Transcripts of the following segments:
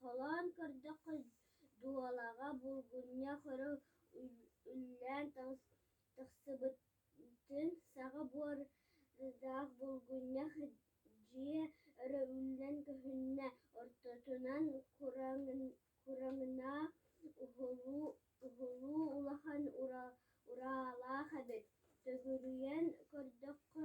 Холоон көрдөххө, дуулаҕа булгунньа хөрө үллээн тахсыбытын саҕа буордаах булгунньа дьиэ өрө үллэн көһүннэ, ортотунан кураҥнаах уһулуу улахан ураалаах эбит. Төгүрүйэн көрдөххө,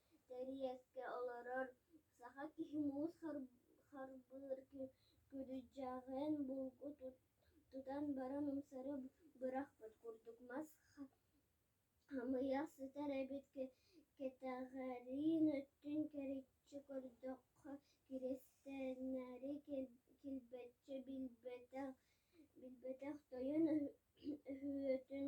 Тэриэскэ олорор саха киһи муус харбыыр күрдьэҕин булгу тутан баран умсары бырахпыт курдук мас хамыйах сытар эбит кэтэҕэрин өттүн кэриччи көрдөххө киристэннэри килбэччи билбэтэх тойон өһүөтүн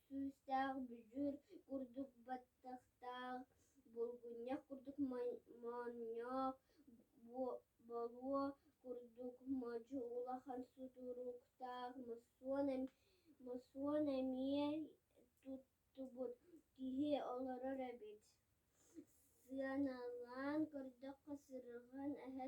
Күүстээх бүдьүүр курдук баттахтаах, булгунньах курдук моонньоох, болуо курдук модьу улахан судуруктаах мосуон эмиэ туттубут киһи олорор эбит. Сыаналаан көрдөххө, сыргын эһэ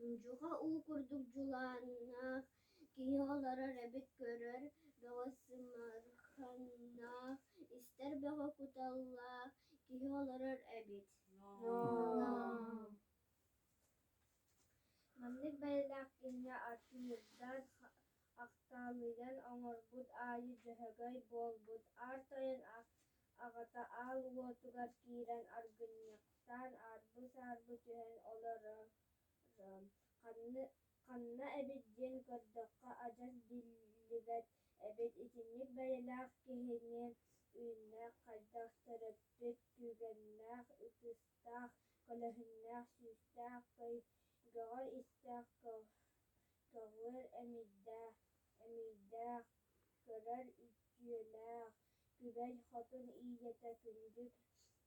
Ньуучуха уу курдук дьулааннаах киһи олорор эбит көрөр бөҕө сымарханнаах истэр бөҕө куталлаах киһи олорор эбит маннык бэйэлээх кэмҥэ артынырдан ахтаалыйан оҥорбут аайы дьөһөгөй буолбут аар тойон аҕата аал уотугар киирэн аргынньах Саан аарбы-саарбы түһэн олорор. Ханна эбит диэн көрдөххө адьас биллибэт эбит итинник бэйэлээх киһини үүннээх хайдах төрөппүт түгэннээх ытыстаах көлөһүннээх сүүстээх көйгөҕө истээх көҕүөр эмиийдээх көрөр үтүөлээх күбэй хотун ийэтэ күндү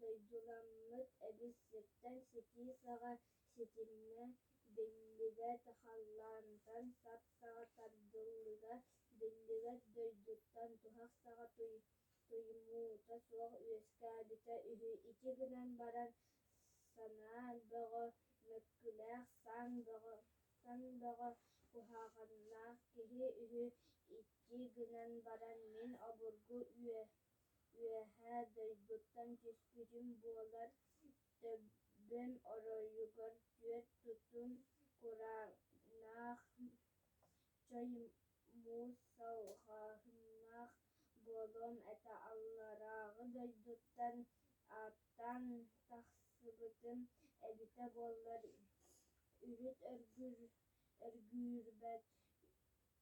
Дойдуламмыт эбизиттэн ситии саҕа ситимҥэ биллибэт халлаантан сап-саҕа тардыллыга биллибэт дойдуттан туһах саҕа туймуута суох үөскээбитэ үһү ити гынан баран санаа бөҕө мөккүлээх саан бөҕө куһаҕаннаах киһи үһү икки гынан баран мин обургу Үөһээ дойдуттан түспүтүм буолар, төбөм оройугар түөрт тутум кураанах, чой муус салҕааннаах буолуом этэ. Алларааҕы дойдуттан ааттаан тахсыбытым эбитэ буоллар, урут өргүүрбэт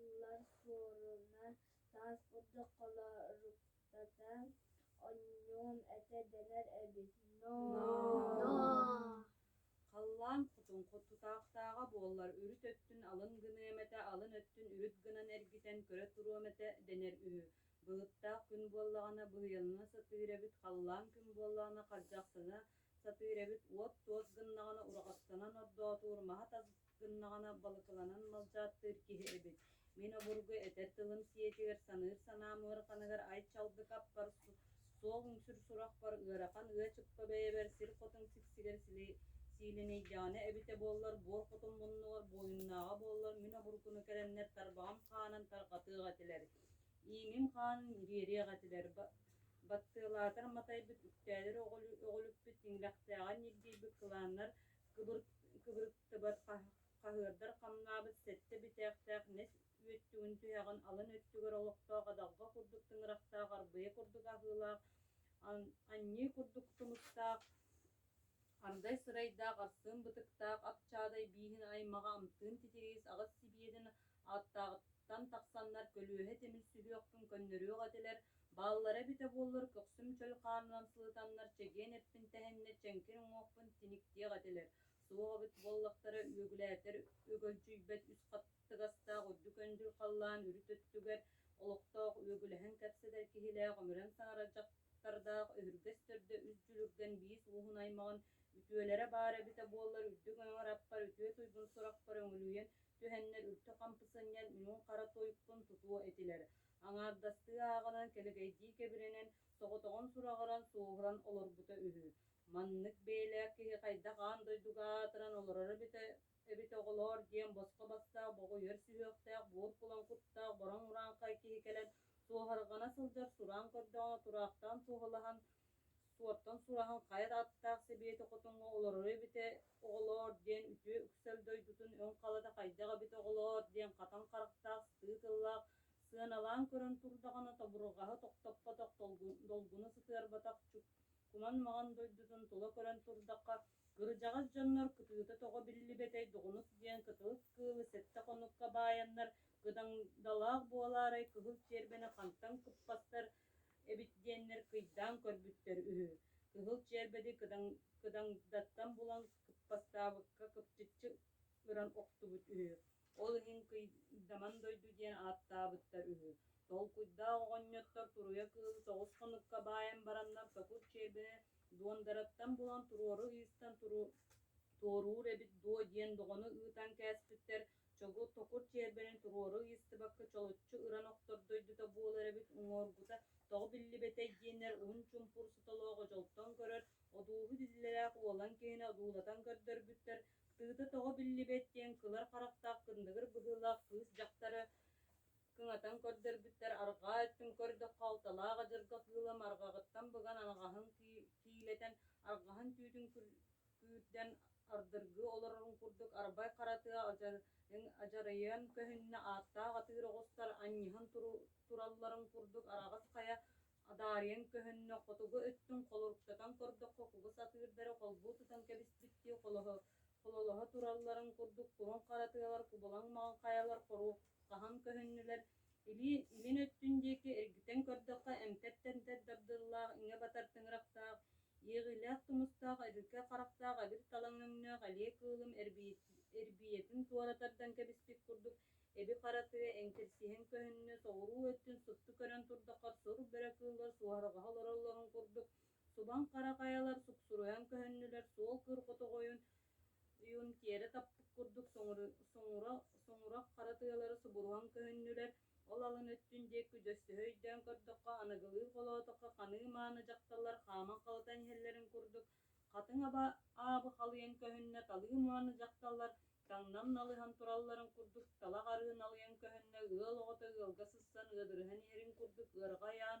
Ыаллар суоруна таас ордохолоруктата онньуом этэ дэнэр эбит Халлаан кутуҥху тутаахтааҕа буоллар үрүт өттүн алын гыныам этэ алын өттүн үрүт гынан эргитэн көрө туруом этэ дэнэр үһү Былыттаах күн буоллаҕына быһыйанна сатыыр эбит халлаан күн буоллаҕына хардьахтана Сатыыр эбит, уот-туос гыннаҕына ураҕастанан ордоотуур, маһа-тас гыннаҕына балыкыланан малдьааттыыр киһи эбит. Мин обургу этэр тылым сиэтигэр саныыр санаам ыараханыгар ай-чалгы хаппар, суол-үҥсүр сурахпар, ыарахан ыа-чыкка бэйэбэр сир хотун сиксигэр силинэйдэҕинэ эбитэ буоллар, буор хотун муннугар буойуннааҕа буоллар мин обургуну кэлэннэр тарбаҕым хаанан тарҕатыах этилэр. Миигин хаан ириэриэх этилэр, баттыалаатар матайбыт үктээлэр өҕүлүппүт тиҥилэхтээҕин ньиргийбит кылааннар кыбырыктыбат хаһыардар хамнаабыт сэттэ бүтээхтээх нэс үөттүгүн түһэҕин алын өттүгэр олохтоох адалҕа курдук тыҥырахтаах арбыйа курдук аһыылаах анньыы курдук тумуктаах ардай сырайдаах арсыын бытыктаах ап чаадай бииһин аймаҕа амтыын титириис аҕыс сибиэтин Аттаҕыттан тахсаннар көлүөһэ тимирсиһиэхпин көннөрүөх этилэр, бааллара эбитэ буоллар көхсүм чөл хаанынан сылытаннар чэгиэн эппин тэһэннэ чэҥкир уҥуохпун тиниктиэх этилэр, суох эбит буоллахтара үөгүлээтэр өгөлдьүйбэт үс хаттыгастаах үрдүк өндүр халлаан үрүт өттүгэр олохтоох үөгүлэһэн кэпсэтэр киһилээх өмүрэн саҥара дьахтардаах өһүргэс төрдө үс дьүлүргэн биис ууһун аймаҕын үтүөлэрэ баар эбитэ буоллар үрдүк өҥөр аппар үтүө туйгун сурахпар өҥүлүйэн түһэннэр үлтү хампы сынньан муҥ-хара тойукпун тутуо этилэр. Аҥаардастыы ааҕынан кэлэгэйдии кэбирэнэн, соҕотоҕун сураҕыран, суоһуран олорбута үһү. Маннык бэйэлээх киһи хайдах аан дойдуга аатыран олороро эбит оҕолоор диэн босхо бастаах боҕойуор сүһүөхтээх буор кулан куттаах бороҥ урааҥхай киһи кэлэн суоһарҕана сылдьар сураан көрдөҕүнэ тураахтаан суоһалаһан Суоттан сураһан хайа да аттаах Сэбиэти хотоҥҥо олороро эбитэ оҕолоор диэн үтүө үксэл дойдутун өҥ халата хайдах эбит оҕолоор диэн хатан харахтаах сыы тыллаах сыаналаан көрөн турдаҕына тобурҕаһы тохтоппотох долгуна сытыарбатах куман маҕан дойдутун тула көрөн турдахха кырдьаҕас дьоннор кытыыта тоҕо биллибэтэй доҕунус диэн кытылык кыылы сэттэ хонукка баайаннар кыдандалаах буолаарай кыһыл чиэрбэни хантан кыппаттар эбит диэннэр кыйдаан көрбүттэр үһү кыһыл чиэрбэди кыдандаттан булан кыппаттаабыкка кыпчыччы ыран охтубут үһү ол иһин кыйдаман дойду диэн ааттаабыттар үһү толкуйдаах оҕонньоттор туруйа кыыл соҕус хонукка баайан бараннар сокур чиэбэ дуондараттан булан туруору ыыстан туоруур эбит дуо диэн доҕону ыытан кээспиттэр Чогут-токут чиэрбэнэн туруору ыйыстыбакка чолоччу ыран охтор дойдута буолар эбит уҥуоргута тоҕо биллибэтэй диэннэр уһун чумпур сотолооҕу дьолтон көрөр одууһу диллэлээх уолан киһини одуулатан көрдөрбүттэр тыыта тоҕо биллибэт диэн кылар харахтаах кындыгыр быһыылаах кыыс дьахтары кыҥатан көрдөрбүттэр арҕаа өттүн көрдөххө алталаах адьырҕа кыыла марҕаҕыттан быган анаҕаһын киилэтэн арҕаһын түүтүн күүрдэн ардыргыы олорорун курдук арбай хара тыа адьарыйан көһүннэ ааттаах атыыр оҕустар анньыһан туралларын курдук араҕас хайа адаарыйан көһүннэ хотугу өттүн холоруктатан көрдөххө кугас атыырдары холбуу тутан кэбиспиттии хололоһо туралларын курдук куһун хара тыалар кубалаҥ маҥан хайалар хоруоп хаһан көһүннүлэр Илии илин өттүн диэки эргитэн көрдөххө, эмтэр-тэмтэр дабдыаллаах, иҥэ батар тыҥырахтаах, иэҕиилээх тумустаах, эбиргэ харахтаах эбир талаҥ өҥнөөх элиэ кыылым эрбийэтин туора тардан кэбиспит курдук эби-хара тыа эҥкирсиһэн көһүннэ, соҕуруу өттүн супту көрөн турдаххар сур бөрө кыыллар суоһарҕаһа олороллорун курдук субан хара хайалар суксуруйан көһүннүлэр, суол кыыр хотоҕойун юнкеры таппыт курдук соҥура-соҥура хара тыалары субуруһан көһүннүлэр, ол алын өттүн диэки дөссөһө өйдөөн көрдөххө, аныгылыы холоотоххо ханыы-мааны дьахталлар хааман халытан иһэллэрин курдук, хатыҥ аба аабы халыйан көһүннэ талыы-мааны дьахталлар таҥнам налыһан туралларын курдук талах арыы налыйан көһүннэ ыал оҕото ыалга сыссан ыадырыһан иһэрин курдук ыарҕа айаан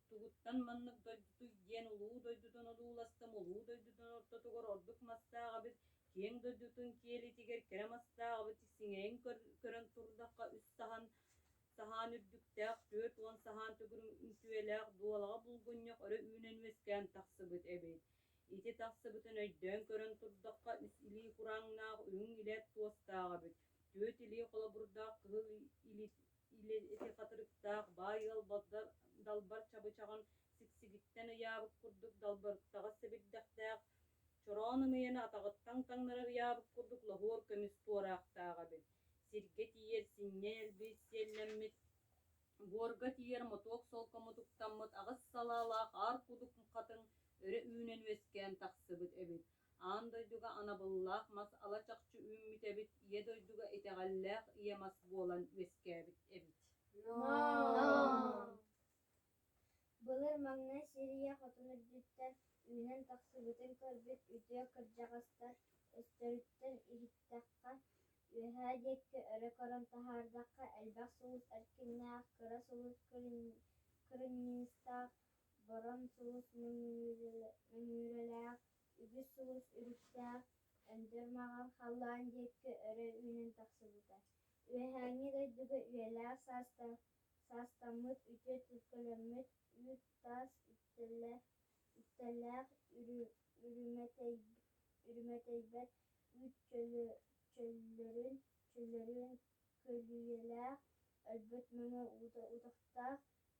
Тугуттан маннык дойдутуй диэн улуу дойдутун одууластым, улуу дойдутун ортотугар ордук мастааҕабыт, киэҥ дойдутун киэлитигэр кэрэ мастааҕабыт сиҥэйин көрөн турдахха үс саһан саһаан үрдүктээх, түөрт уон саһаан төгүрүк үҥкүөлээх дуолаҕа булгунньах өрө үүнэн үөскээн тахсыбыт эбит. Ити тахсыбытын өйдөөн көрөн турдахха, үс илии курааҥнаах, үрүҥ илэ туостаах эбит, түөрт илии холобурдаах кыһыл Илин ити хатырыктаах баай ыалбалдар далбар чабычаҕын сиксигиттэн ыйаабыт курдук далбарыктаҕас сэбирдэхтээх, чороон ымыйаны атаҕыттан таҥнарар ыйаабыт курдук лоһуор көмүс туораахтаах эбит. Сиргэ тиийэр синньэ элбиис сиэллэммит, буорга тиийэр мотуок солко мутуктаммыт аҕыс салаалаах аар кудук хатыҥ өрө үүнэн үөскээн тахсыбыт эбит. Аан дойдуга анабыллаах мас ала-чахчы үүммүт эбит, ийэ дойдуга итэҕэллээх ийэ мас буолан үөскээбит эбит. Былыр маҥнай Сирия хотун үрдүттэн үүнэн тахсыбытын көрбүт үтүө кырдьаҕастар өстөрүттэн иһиттэххэ, үөһээ диэкки өрө көрөн таһаардахха, элбэх сулус эркиннээх, кыра сулус кырынньыыстаах Борон сулус мөҥүүрэлээх, үгүс сулус үгүстээх Өндөр Маҕар халлаан диэкки өрө үүнэн тахсыбыта. Үөһээҥҥи дойдуга үйэлээх саастаах саастаммыт үтүө төлкөлөммүт үүт таас үктэллээх үрүмэтэйбэт үүт чөллөрүн көлүйэлээх өлбүт мөҥө уута утахтаах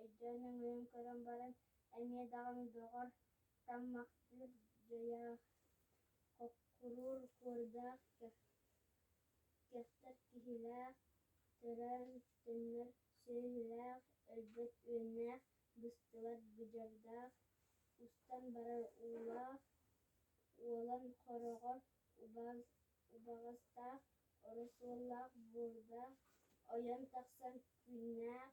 өйдөөн өҥөйөн көрөн баран, эмиэ даҕаны доҕор, таммахтыыр дьайаах, хоккуруур куордаах, кэхтэр киһилээх, төрөөр төннөр сүөһүлээх, өлбөт үөннээх, быстыбат быдьардаах, устан барар уулаах, уолан хороҕор убаҕастаах, оросуоллаах буордаах, ойон тахсан күннээх,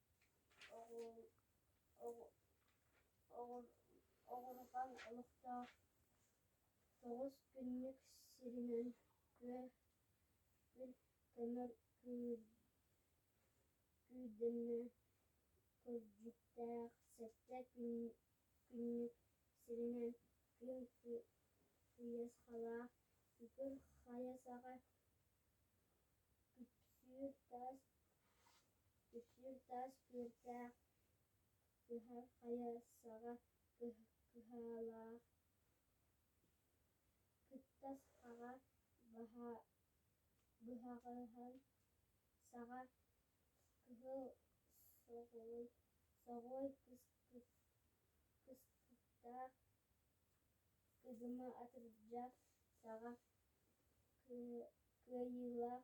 Оҕурҕан олохтоох тоҕус күннүк сиринэн күө көмөр күүрдэннэ кырдьыктаах сэттэ күннүк сиринэн күн тыйысхалаах ытыр хайа саҕа күпсүүр таас Үксүн таас күөртээх, кыһан хайа саҕа кыһалаах, кыттас аҕа быһаҕаһын саҕа кыһыл соҕуй кыстыктаах кыдыма атырдьа саҕа кыайыылаах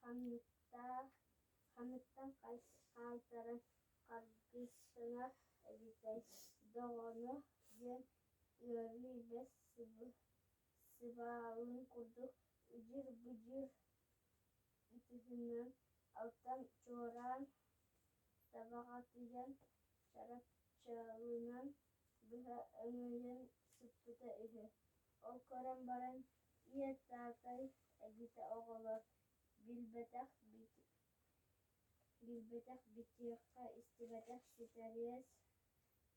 Ханныктаах ханныктан хаалтаран харгысына эбитэй доҕоно диэн ыарыы-илэ сыбаалын курдук удьур-будьур ытыһынан алтан чуораан табаҕатыйан чарапчылынан быһа өҥөйөн сыппыта үһү ол көрөн баран Иэстэхэй эбитэ оҕолор билбэтэх билбэтэх битиэхэ истибэтэх ситэриэс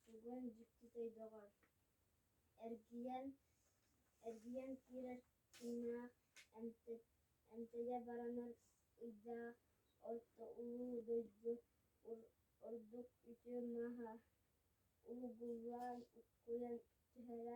сугун дьиктитэй доҕор эргийэн эргийэн киирэр тыына эмтэйэ баранан ыйдаах орто улуу дойду ордук үтүө мааһа уһугуллан уккуйан түһэрэ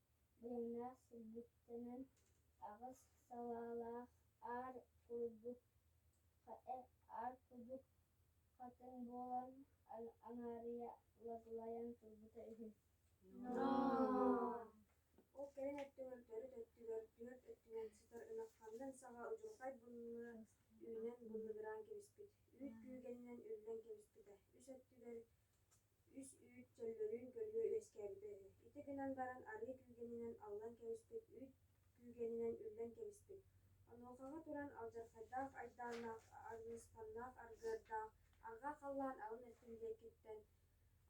дьиҥнээх сирбиттэнэн аҕыс салаалаах аар курдук аар кудук хатыҥ буолан аҥаарыйа улатылайан турбута үһү ол кэлин өттүгэр төрүт өттүгэр түөрт өттүнэн сытар ынах хандан саҕа удьурхай булла үүнэн буллугураан кэбиспит үүт күүгэнинэн үллэн кэбиспитэ үс өттүгэр үс үүт чөллөрүн көлүө үөскээбитэ үһү. Ити гынан баран арыы күүгэнинэн аллан кэбиспит үүт күүгэнинэн үллэн кэбиспит. Онуохаҕа туран алдьархайдаах айдааннаах, арыысканнаах аргыардаах арҕаа халлаан аҕын өттүн диэкиттэн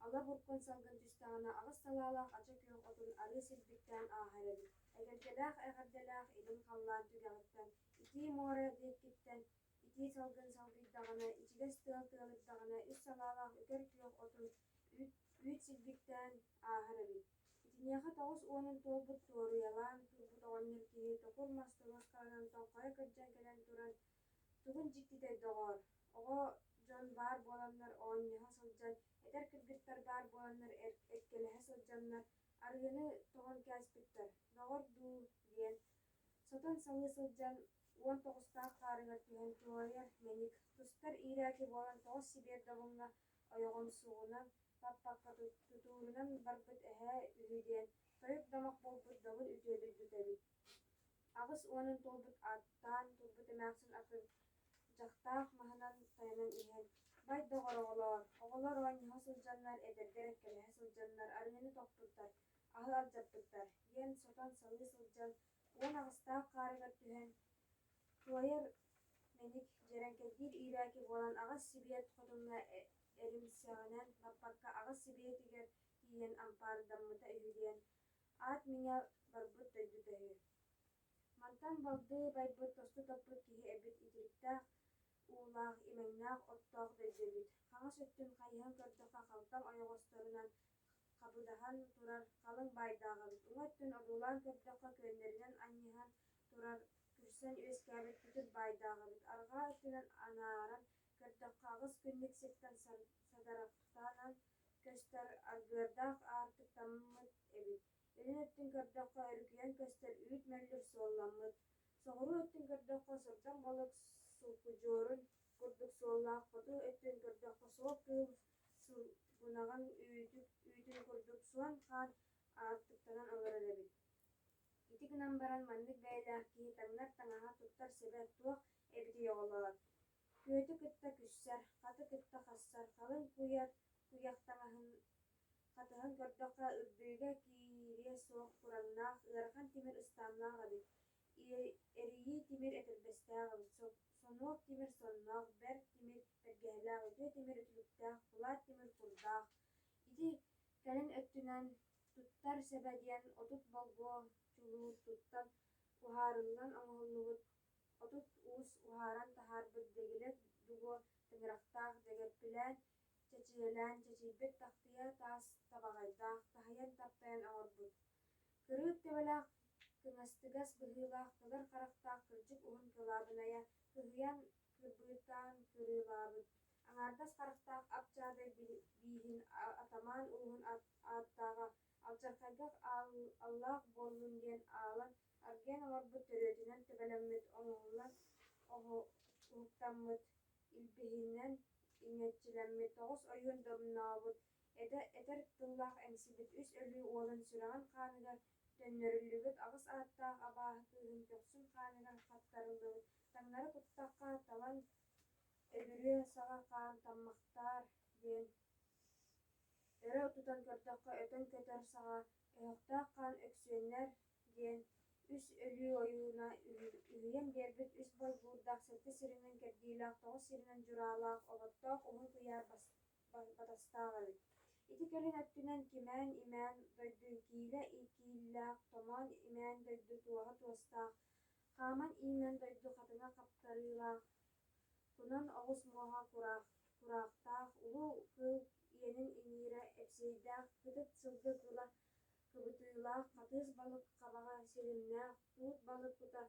ала буркун салгын түстэҕинэ аҕыс салаалаах ача күөх отун арыы сирбиттээн ааһар эбит. Эгэлгэлээх эҕэрдэлээх илин халлаан түгэҕиттэн итии муора диэкиттэн итии салгын салгыйдаҕына, ичигэс тыал тыалырдаҕына, ис салаалаах үкэр күөх отун үүт, үүт силбиктээн ааһар эбит. Итиниэхэ тоҕус уонун туолбут суоруйалаан турбут оҕонньор киһи токур мас тобохханан тоҥхойо кырдьан кэлэн туран тугун дьиктитэр доҕоор, оҕо дьон баар буоланнар оонньоһо сылдьан, этэр кыргыттар баар буоланнар эккэлэһэ сылдьаннар арыыны тоҥон кээспиттэр, доҕор дуу диэн сотон саҥыы сылдьан уон тоҕустаах хаарыгар түһэн туһайар мэник, тустар иирээки буолан тоҕус сибиэр добуҥҥа ойоҕун суоҕунан, паппакка тутуурунан барбыт эһээ үһү диэн тойук домох буолбут добун үтүөтүн үтэбит. Аҕыс уонун туолбут ааттаан турбут эмээхсин атын дьахтаах маһынан тайанан иһэн бай доҕор оҕолоор оҕолор оонньоһо сылдьаннар эдэрдэр эккэлэһэ сылдьаннар арыгыны тохпуттар аһы алдьаппыттар диэн сотон салыы сылдьан уон аҕыстаах хаарыгар түһэн туойар мэник дьэрэҥкэтиир иирээки буолан аҕыс сибиэт хотунна эримсэҕинэн баппакка аҕыс сибиэтигэр тиийэн ампаардаммыта үһү диэн аат миҥэ барбыт дойдута үһү мантан балдыы байбыт тосту топпут киһи эбит итириктээх уулаах имэҥнээх оттоох бэрдьэбит хаҥас өттүн хайыһан көрдөххө халтаҥ ойоҕосторунан хабыдаһан турар халыҥ баайдааҕыбыт уҥа өттүн одуулаан көрдөххө күөннэринэн анньыһан турар күрсэн үөскээбит күтүр баайдааҕыбыт арҕаа өттүнэн анааран көрдөххө аҕыс күннүк сиртэн садарахтаанан көстөр аргыардаах аартыктаммыт эбит үрүн өттүн көрдөххө өрүкүйэн көстөр үүт мөллүр суолламмыт соҕуруу өттүн көрдөххө сырдаҥ балык сулкудьуорун курдук суоллаах хоту өттүн көрдөххө суох кыыл сунаҕын үүтүк үүтүн курдук суон-хаан аартыктанан олорор эбит. Ити гынан баран маннык бэйэлээх киһи таҥнар таҥаһа туттар сэбэ туох эбитий оҕолоор? Күөтү кытта күссэр, хаты кытта хассар, халыҥ куйар куйах таҥаһын хатыһан көрдөххө үрдүгэ киириэ суох кураҥнаах ыарахан тимир ыстааннаах эбит, эрийии тимир этэрбэстээх эбит Сонуок тимир соннох, бэрт тимир, бэргэһэлээх үтүө тимир үтүлүктээх, кулаат тимир курдаах. Ити кэлин өттүнэн туттар сэбэ диэн отут болгуо чулуур туттан уһаарыллан оҥоһуллубут отут уус уһааран таһаарбыт дэгилэ дуго тыҥырахтаах дэгэппилээн чэчийэлээн чэчийбит тахтыйа таас табаҕайдаах таһыйан таптайан оҥорбут Кырыыт төбөлөөх, кыҥастыгас быһыылаах, былыр харахтаах кырдьык уһун кылаабынайа кыһыйан кырбыытаан кырыылаабыт, аҥаардас харахтаах ап дьаадай бииһин атамаан ууһун ааттааҕа алдьархайга аллаах буоллун диэн аалан аргыйан олорбут төрүөтүнэн төбөлөммүт, оҥоһуллан уһуктаммыт, илбиһинэн иҥэччилэммит, тоҕус ойуун домнообут этэ этэр тыллаах эмсибит үс өлүү уолун сүрэҕин хааныгар төннөрүллүбүт аҕыс ааттаах абааһы кыыһын көхсүн хааныгар хаттарыллыбыт таҥнары куттахха талан өбүрүө саҕа хаан таммахтаар диэн өрө тутан көрдөххө өтөн көтөр саҕа өһөхтөөх хаан өксүөннэр диэн үс өлүү ойууна үһүйэн биэрбит үс болбуурдаах сэттэ сиринэн кэрдиилээх тоҕус сиринэн дьураалаах оботтоох уһун куйаар батастаах эбит ити кэлин өттүнэн кимээн-имээн дойдун киилэ кииллээх томоон имээн дойду туоһа туостаах хааман-иимэн дойду хатыҥа хаптарыылаах кунан оҕус муоһа кураахтаах улуу кыыл иэнин иҥиирэ эпсиэйдээх кытыт сылгы кыла кыбытыылаах хатыыс балык хабаҕа силимнээх туут балык кута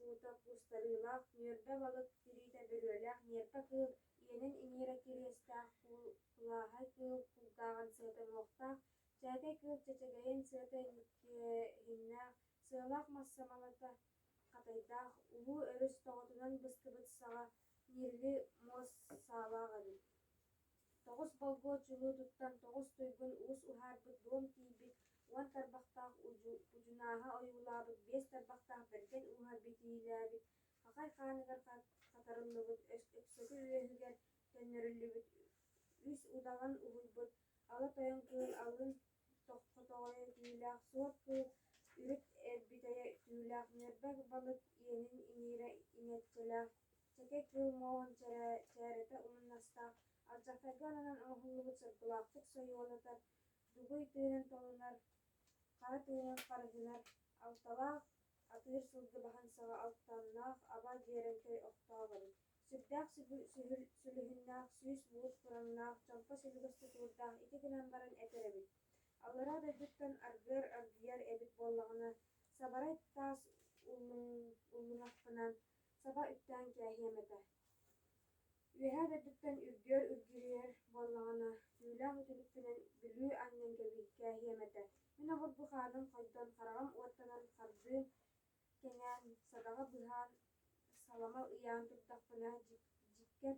Уута куустарыылаах, нүөрбэ балык тириитэ бөрүөлээх ньиэппэ кыыл, иэнин иҥиирэ кириэстээх куул, кулааһай кыыл кулгааҕын сыатаҥуохтаах, чээкэй кыыл чэчэгэйин сыата иҥкээһиннээх, сыалаах мас самалата хатайдаах, улуу өрүс тоҕотунан быскыбыт саҕа ньирли муос саалаах эбит. Тоҕус болгуот чулуутуттан тоҕус туйгун уус уһаарбыт дуом тиийбит уон тарбахтаах удьу, кудьунааһа ойуулаабыт биэс тарбахтаах бэргэн ууһа битиилээбит хахай хааныгар хатарыллыбыт өксөкү үөһүгэр төннөрүллүбүт үс удаҕан уһуйбут ала тойон кыыл алын хотоҕойо түүлээх суот кыыл үрүт эрбитэйэ түүлээх ньэрбэ балык иэнин иҥиирэ иҥэччэлээх Чэкэ кыыл муоһун чэрэ, чээрэтэ умуннастаах, алдьархайга ананан оҥоһуллубут соргулаахчыт сойуолатар, дугуй тыынын толунар, хара тыынын харыһынар, алталаах, атыыр сылгы баһансаҕа алтаннаах аба дьиэрэҥкэй охтооболун, сүрдээх сүһүл, сүлүһүннээх, сүүс муус кураҥнаах, чоҥко сүлүгэс тутуурдаах ити гынан баран этэр эбит, аллараа дойдуттан аргыар аргыйар эбит буоллаҕына, сабарай таас уллуҥахпынан Саба үктээн кээһиэм этэ Үөһээ дойдуттан үрдүөр үргүрүйэр буоллаҕына, түүлээх үтүлүкпүнэн Бүлүү анньан кэбиһи кээһиэм этэ Мин обургу хааным хойдон, хараҕым уоттанан хардыым кэҥээн, садаҕа быһаан, саламал ыйаан турдахпына, дьиккэр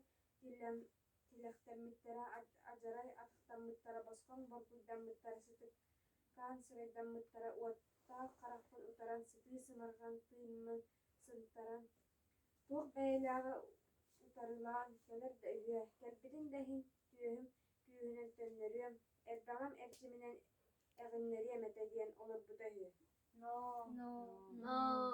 тилэхтэммиттэрэ, адьарай атыктаммыттара, босхоҥ боргуйдаммыттара, сытыкаан сырайдаммыттара, уоттаах харахпын утаран сытыы сымарҕан тыыммын сынтаран, туох бэйэлээҕи утарылаан кэлэр да үһүө, кэлбитин да иһин түөһүм күүһүнэн төннөрүөм, эрбэҕим эрчиминэн эҕиннэриэм этэ диэн олорбута үһү. Ноо, ноо, ноо